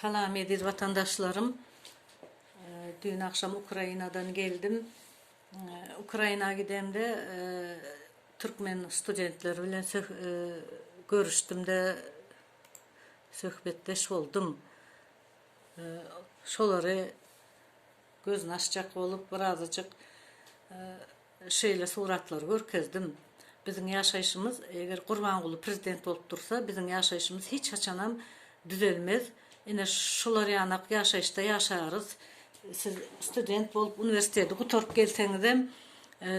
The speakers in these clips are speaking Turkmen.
Salam eziz watandaşlarym. Düýn agşam Ukrainadan geldim. Ukraina gidemde türkmen studentleri bilen görüşdimde söhbetdeş boldum. Şolary gözüni açjak bolup birazajyk Şeýle suratlary görkezdim. Biziň ýaşaýşymyz, eger Gurbanguly prezident bolup dursa, biziň ýaşaýşymyz hiç haçanam düzelmez. Ine, şular ýanak ýaşaýyşda ýaşarys. Siz student bolup uniwersiteti gutaryp gelseňizem,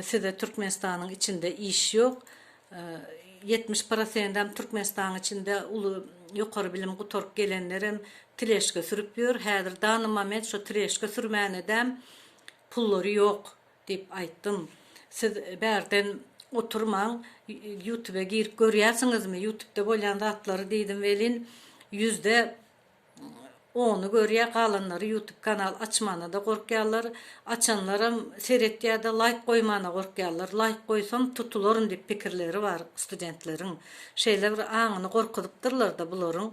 size Türkmenistanyň içinde iş ýok. Ýetmiş prosendem Türkmenistanyň içinde uly ýokary bilim gutaryp gelenlerem tileşka sürüp ýör. Häzir dany moment şo tileşka sürmäne-däm pullary ýok. Diýip aýtdym. Siz bärden oturmaň, ýutube girip görýärsiňizmi, ýutubda bolýan zatlary diýdim welin, ýüzde ony görýär, galanlary ýutub kanal açmana-da gorkýarlar, açanlaram seretýär-de laýk goýmana gorkýarlar, laýk goýsam tutularyn diýip pikirleri bar studentleriň. Şeýle bir aňyny gorkuzypdyrlar-da bularyň.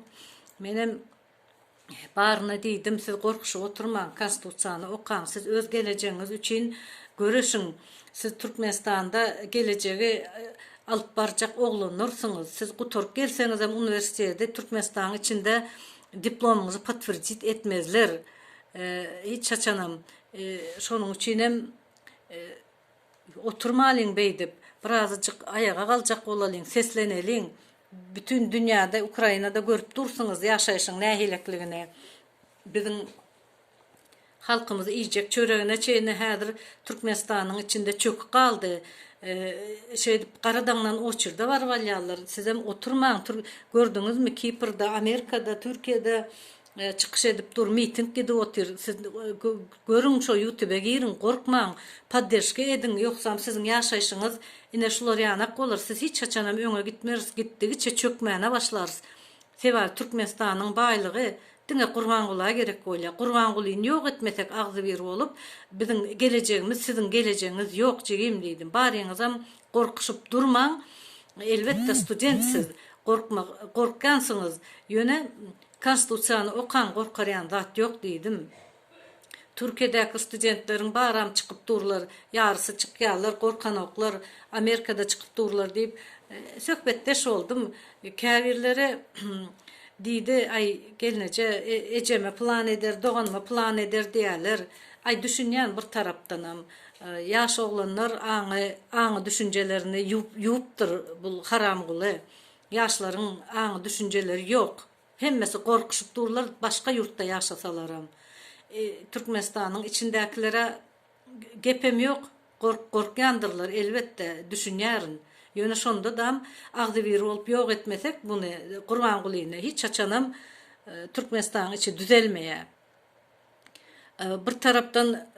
Menem Baryna diýdim, siz gorkuşyp oturmaň, Konstitusiýany okaň, siz öz gelejegiňiz üçin göreşiň, siz Türkmenistanda gelejegi alyp barjak oglanlarsyňyz, siz gutaryp gelseňizem uniwersiteti Türkmenistanyň içinde diplomyňyzy potwerdit etmezler hiç haçanam, şonuň üçinem Oturmalyň beýdip, birazajyk aýaga galjak bolalyň, sesleneliň. Bütin dünýäde, Ukrainada görüp dursuňyz ýaşaýşyň nähilekligini. Biziň halkymyz iýjek çöregine çenli häzir Türkmenistanyň içinde çöküp galdy. Şeýdip gara daňdan oçurda baryp alýarlar. Sizem oturmaň. Gördüňizmi, Kiprde, Amerikada, Türkiýede Çykyş edip dur miting gidip otyr siz görüň şo ýutube giriň gorkmaň podderşka ediň ýogsam siziň ýaşaýşyňyz ine şular ýanak bolar siz hiç haçanam öňe gitmeris gitdigiçe çökmäne başlarys sebabi türkmenistanyň baýlygy diňe gurbangula gerek bolýa gurbangulyny ýok etmesek agzybir bolup biziň gelejegimiz siziň gelejegiňiz ýok jigim diýdim baryňyzam gorkuşyp durmaň elbetde student siz gorkma gorkýansyňyz ýöne Konstitusiýany okaň gorkarýan zat ýok diýdim. Türkiýedäki studentleriň baram çykyp durlar, ýarysy çykýarlar, gorkanoklar, Amerikada çykyp durlar diýip söhbetdeş boldum. Käbirleri diýdi, aý gelneje ejeme pylan eder, doganyma pylan eder diýýärler. Aý düşünýän bir tarapdanam. Ýaş oglanlar aňy aňy düşünjelerini ýuwupdyr bul haramguly. Ýaşlaryň aňy düşünjeleri ýok. Hemmesi gorkuşyp durlar başga ýurtda ýaşasalaram. Türkmenistanyň içindäkilere gepem ýok gorkýandyrlar elbetde düşünýärin. Ýöne şonda dam agzybir bolup ýok etmesek muny Gurbangulyny hiç haçanam Türkmenistanyň içi düzelmeýär. Bir tarapdan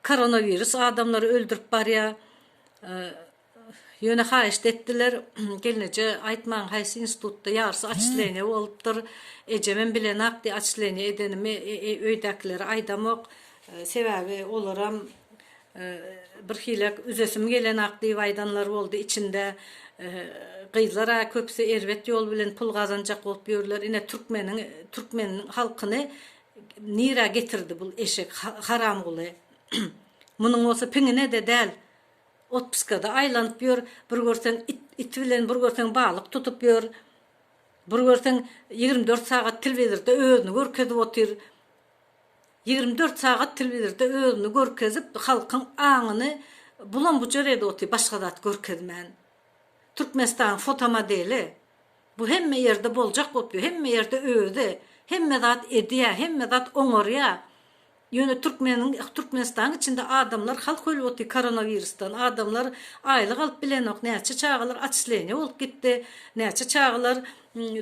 koronawirus adamlary öldürip barýar. Ýöne haýyşt etdiler, Gelneje aýtmaň haýsy institutda ýarsy atçleniýa bolupdyr, ejemem bilenok diýip atçleniýa edenimi öýdäkilere aýdamok, sebäbi olaram birhilek üzesim gelenok diýip aýdanlar boldy içinde gyzlar-a köpüsi erbet ýol bilen pul gazanjak bolup ýörler, ine türkmeniň türkmen halkyny nirä getirdi bul eşek haramguly munuň bolsa piňine-de däl Otpuskada aýlanyp ýör, bir görseň it it bilen, bir görseň balyk tutup ýör. Bir görseň ýigrimi dört sagat telewizorda özüni görkezip otyr. Ýigrimi dört sagat telewizorda özüni görkezip, halkyň aňyny bulam-bujar edip otyr, başga zat görkezmän. Türkmenistanyň fotomodeli. Bu hemme ýerde boljak bolup ýör, hemme ýerde özi. Hemme zat edýär, hemme zat oňarýar. Ýöne türkmeniň Türkmenistanyň içinde adamlar halk ölüpti koronowirusdan adamlar aýlyk alyp bilenok näçe çagalar atçleniýa bolup gitdi näçe çagalar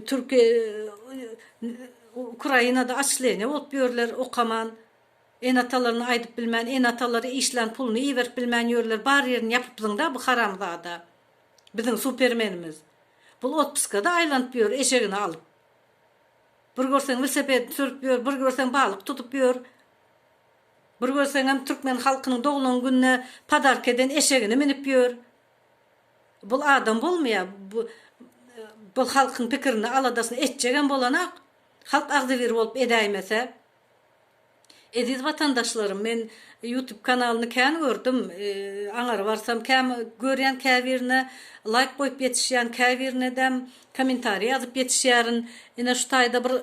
türki ukrainada atçleniýa bolup ýörler okaman ene atalaryna aýdyp bilmän ene atalary işlän puluny iberip bilmän ýörler bar ýerini ýapypsyňda bu haramzada biziň supermenimiz bul otpuskada aýlanyp ýör eşegini alyp Bir görseň welosipedini sürüp ýör, bir görseň balyk tutup ýör. Bir görseňem türkmen halkynyň doglan gününe podarka eden eşegini münüp ýör. Bul adam bolmaýar. Bu bu halkyň pikirini, aladasyny etjegem bolanok. Halk agzybir bolup edäýmese. Eziz watandaşlarym men ýutub kanalyny kän gördüm aňar barsam käm görýän käbirine laýk goýup ýetişýän käbirinedem komentariý ýazyp ýetişýärin ine şu taýda bir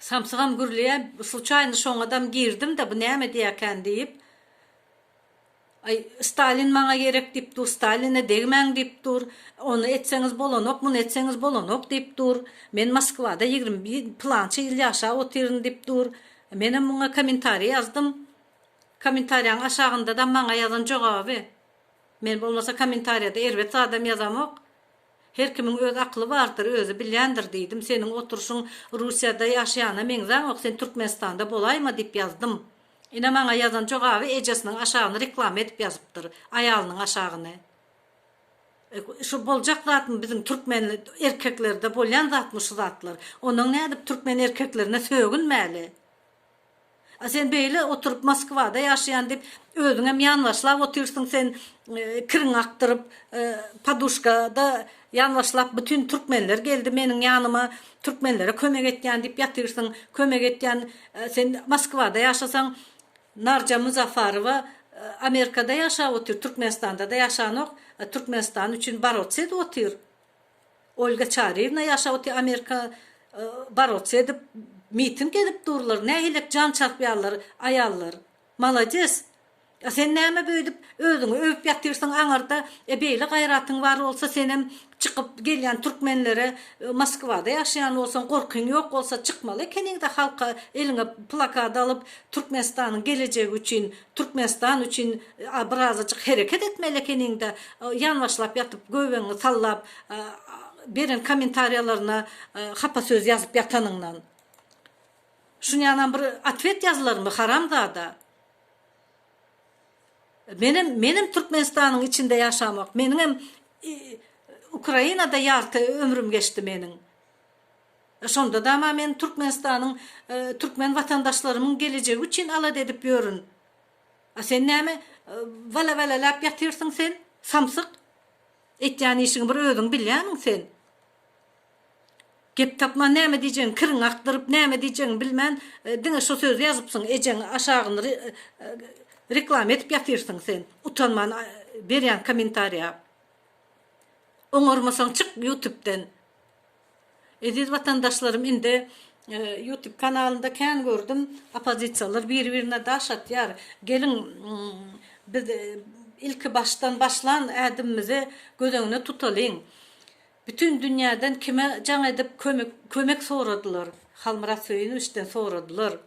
samsygam gürleýä sluçaýny şoňadam girdimde bu näme diýäkän diýip Aý, Stalin maňa gerek diýip dur, Staline degmäň diýip dur, ony etseňiz bolanok, muny etseňiz bolanok diýip dur, men Moskwada ýigrimi pylança ýyl ýaşap otyryn diýip dur. Menem muňa kommentariý ýazdym. Kommentariýaň aşagynda-da maňa ýazan jogaby. Men bolmasa kommentariýada erbet zadam ýazamok. Her kimiň öz akyly bardyr, özi bilýändir diýdim. Seniň oturşyň Russiýada ýaşaýana meňzäňok, sen Türkmenistanda bolaýma diýip ýazdym. Ine maňa ýazan jogaby ejesiniň aşagyny reklama edip ýazypdyr aýalynyň aşagyny. Şu boljak zatmy biziň türkmen erkeklerde bolýan zatmy şu zatlar. Onuň nädip türkmen erkeklerine sögünmäli. A sen beýle oturyp Moskwada ýaşaýan diýip özüňem ýanbaşlap otyrsyň sen kiriňi akdyryp poduşkada Ýalňyşlap bütin türkmenler geldi meniň ýanyma, türkmenlere kömek etýän diýip ýatyrsyň, kömek etýän sen Moskwada ýaşasaň, Narja Muzafarowa Amerikada ýaşap otyr, Türkmenistanda-da ýaşanok, Türkmenistan üçin borots edip otyr, Olga Çaryýewna ýaşap otyr Amerika, borots edip, miting edip durlar, nähilek jan çarpýarlar aýallar. Malades! A sen näme beýdip özüňi öwüp ýatyrsyň aňarda e beýle gaýratyň bar bolsa senem çykyp gelýän türkmenlere Moskwada ýaşaýan bolsaň gorkyň ýok bolsa çykmaly ekeniňdä halka eliňe plakat alyp Türkmenistanyň gelejegi üçin Türkmenistan üçin a birazajyk hereket etmeli ekeniňdä ýanbaşlap ýatyp göbegiňi sallap beren kommentariýalaryna hapa söz ýazyp ýatanyňdan. Şunýanam bir otwet ýazylarmy haramzada. Menem menem Türkmenistanyň içinde ýaşamok. Meniňem Ukrainada ýarty ömrüm geçdi meniň. Şonda dama men Türkmenistanyň türkmen watandaşlarymyň gelejegi üçin alada edip ýörün. A sen näme wala-walaläp ýatyrsyň sen, samsyk? Etýän işiňi bir özüň bilýämiň sen? Gep tapman näme diýjegiňi kiriňi akdyryp näme diýjegiňi bilmän diňe şo sözi ýazypsyň ejeň aşagyny reklama edip ýatyrsyň sen utanman berýän komentariýa oňarmasaň çyk ýutubden Eziz watandaşlarym indi ýutub kanalynda kän gördüm opozisiýalar biri birine daş atýar geliň biz ilki başdan başlan ädimimizi göz öňüne tutalyň. Bütin dünýäden kime jaň edip kömek kömek soradylar? Halmyrat Söýünowiçden soradylar.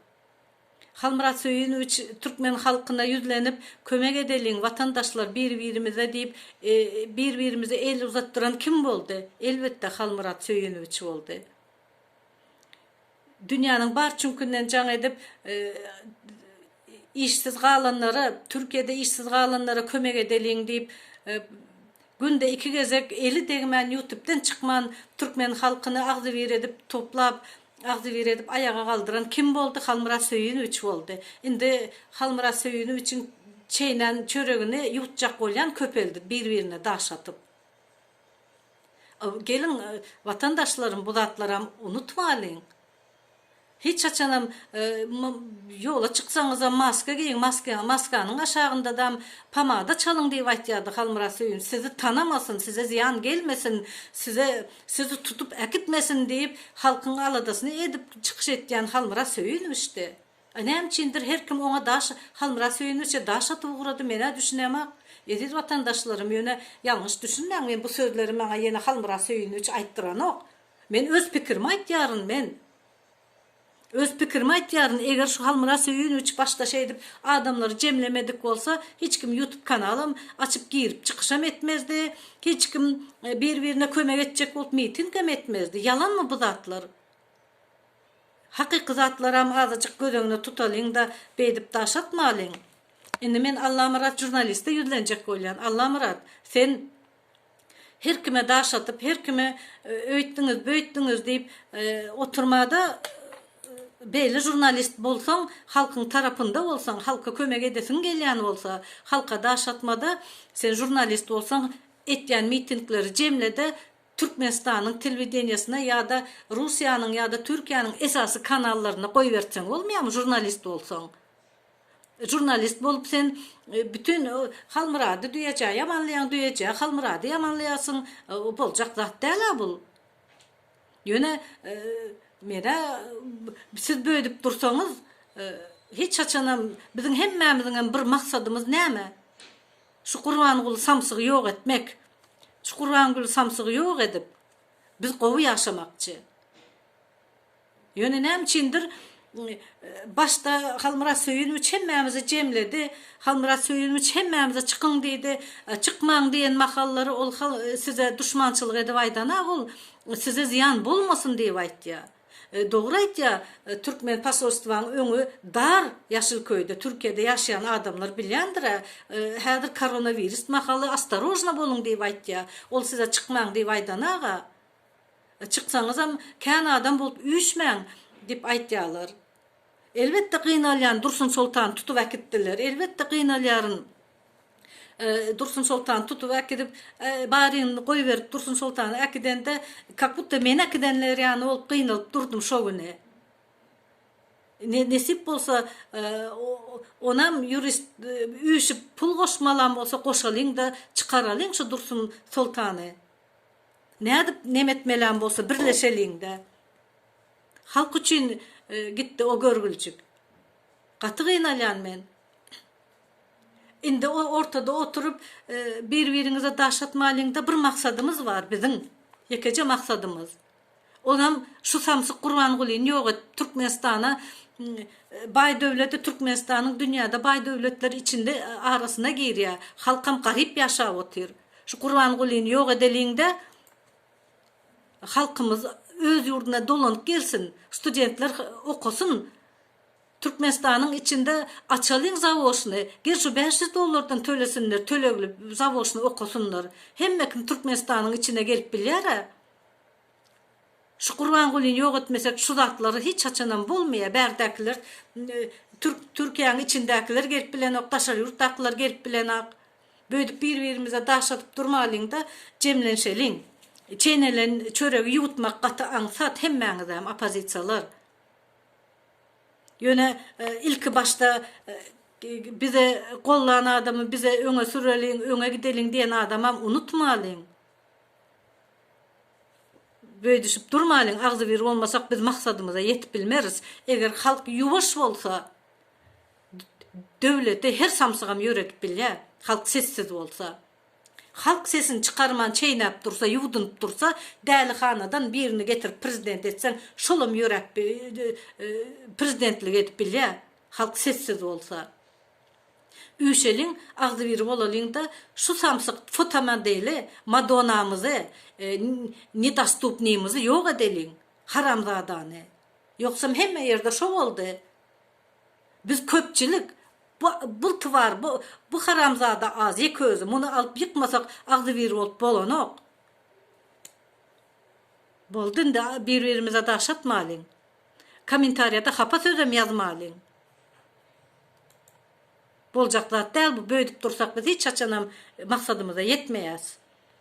Halmyrat Söýünowiç türkmen halkyna ýüzlenip, kömek edeliň, watandaşlar, bir-birimize diýip, bir-birimize el uzatdyran kim boldy? Elbetde, Halmyrat Söýünowiç boldy. Dünýäniň bar çüňkünden jaň edip, işsiz galanlara, Türkiýede işsiz galanlara kömek edeliň diýip, günde iki gezek eli degmän, ýutubden çykman, türkmen halkyny agzybir edip, toplap, agzybir edip aýaga galdyran kim boldy? Halmyrat Söýünowiç boldy. Indi Halmyrat Söýünowiçiň çeýnän çöregini ýutjak bolýan köpeldi, bir-birine daş atyp. Geliň, watandaşlarym, bu zatlaram unutmalyň. Hiç haçanam ýola çyksaňyzam maska geýiň, maskanyň aşagyndadam pomada çalyň diýip aýtýardy Halmyrat Söýünç. Sizi tanamasyn, size zyýan gelmesin, size sizi tutup äkitmesin diýip, halkyň aladasyny edip çykyş etýän Halmyrat Söýünowiçdi. A näme üçindir her kim oňa daş Halmyrat Söýünmişe daş atyp ugrady menä düşünemok Eziz watandaşlarym ýöne ýalňyş düşünmäň men bu sözleri maňa ýene Halmyrat Söýünmiş aýtdyranok men öz pikirimi aýtýaryn men öz pikirimi aýtýaryn eger şu Halmyrat Söýünmiş başda şeýdip adamlary jemlemedik bolsa hiç kim ýutub kanalam açyp girip çykyşam etmezdi hiç kim bir birine kömek etjek bolup mitingem etmezdi ýalanmy bu zatlar. Hakyky zatlaram azajyk göz öňüne tutalyň-da, beýdip daş atmalyň. Indi men Allamyrat žurnaliste ýüzlenjek bolýan. Allamyrat, sen her kime daş atyp, her kime öýtdüňiz, böýtdüňiz diýip oturma-da, beýle žurnalist bolsaň, halkyň tarapynda bolsaň, halka kömek edesiň gelýän bolsa, halka daş atma-da, sen žurnalist bolsaň, etýän mitingleri jemle-de, Türkmenistanyň telewideniýesine ýa-da Russiýanyň ýa-da Türkiýäniň esasy kanallaryna goýbertseň bolmaýamy žurnalist bolsaň? Žurnalist bolup sen bütin Halmyrady düýejä ýamanlaýaň düýejä Halmyrady ýamanlaýarsyň boljak zat däl-ä bul. Ýöne menä siz böýdüp dursaňyz hiç haçanam biziň hemmämiziňem bir maksadymyz näme? Şu Gurbanguly samsygy ýok etmek. Şu Gurbanguly samsygy ýok edip biz gowy ýaşamakçy. Ýöne näme üçindir başda Halmyrat Söýünwiç hemmämizi jemledi. Halmyrat Söýünwiç hemmämize çykyň diýdi. Çykmaň diýen mahallary ol size duşmançylyk edip aýdana ol size zyýan bolmasyn diýip aýtýar. Dogry aýtýa türkmen posolstwaň öňi dar ýaşyl köýde türkiýede ýaşaýan adamlar bilýändirä häzir koronawirist mahaly ostarožna boluň diýip aýtýa ol size çykmaň diýip aýdanaga çyksaňyzam kän adam bolup üýşmäň dip aýtýalar elbetde gynalýan dursun soltan tutup äkitdiler elbetde gynalýaryn. Dursun soltany tutup äkidip, baryny goýberip Dursun soltany äkidende, kak budda meni äkidenler ýaly bolup gynalyp durdum şo güni. Nesip bolsa, onam ýurist üýşüp pul goşmalam bolsa goşalyň-da, çykaralyň şu Dursun soltany. Nädip neme etmelem bolsa birleşeliň-de. Halk üçin gitdi o görgüljik. Gaty gynalýan men. Indi o ortada oturyp bir biriňize daş atmalyňda bir maksadymyz bar biziň ýekeje maksadymyz onam şu samsyk gurbangulyny ýok et türkmenistana baý döwledi türkmenistanyň dünýäde baý döwletler içinde arasyna girýä halkam garyp ýaşap otyr şu gurbangulyny ýok edeliňde halkymyz öz ýurduna dolanyp gelsin studentler okasyn. Türkmenistanyň içinde açalyň zawoşny gel şu bäş ýüz dollardan tölesinler tölegli zawoşny okasynlar hemme kim Türkmenistanyň içine gelip bilýärä şu Gurbangulyny ýok etmesek şu zatlar hiç haçanam bolmaýa bärdäkiler türk Türkiýäň içindäkiler gelip bilenok daşary ýurtdakylar gelip bilenak böýdüp bir birimize daş atyp durmalyňda jemlenşeliň çeýnelen çöregi ýuwutmak gaty aňsat hemmäňizem opozisiýalar. Ýöne ilki başda bize gollan adamy bize öňe süreliň, öňe gideliň diýen adamam unutmalyň. Böýdüşip durmalyň, agzybir bolmasak biz maksadymyza ýetip bilmeris. Eger halk ýuwaş bolsa döwlete her samsygam ýöredip bilýär. Halk sessiz bolsa. Halk sesini çykarman çeýnäp dursa ýuwdunyp dursa dälihanadan birini getirip prezident etseň şolam ýöräp prezidentlik edip bilýä halk sessiz bolsa. Üşeliň agzybir bolalyňda şu samsyk fotomodeli madonamyzy nedostupnymyzy ýok edeliň haramzadany ýogsam hemme ýerde şo boldy. Biz köpçülik bu bul twar bu bu haramzada az ýek özi muny alyp ýykmasak agzybir bolup bolanok. Boldy indi bir birimize daş atmalyň. Komentarýada hapa sözem ýazmalyň. Boljak zat däl bu böýdüp dursak biz hiç haçanam maksadymyza ýetmeýäs.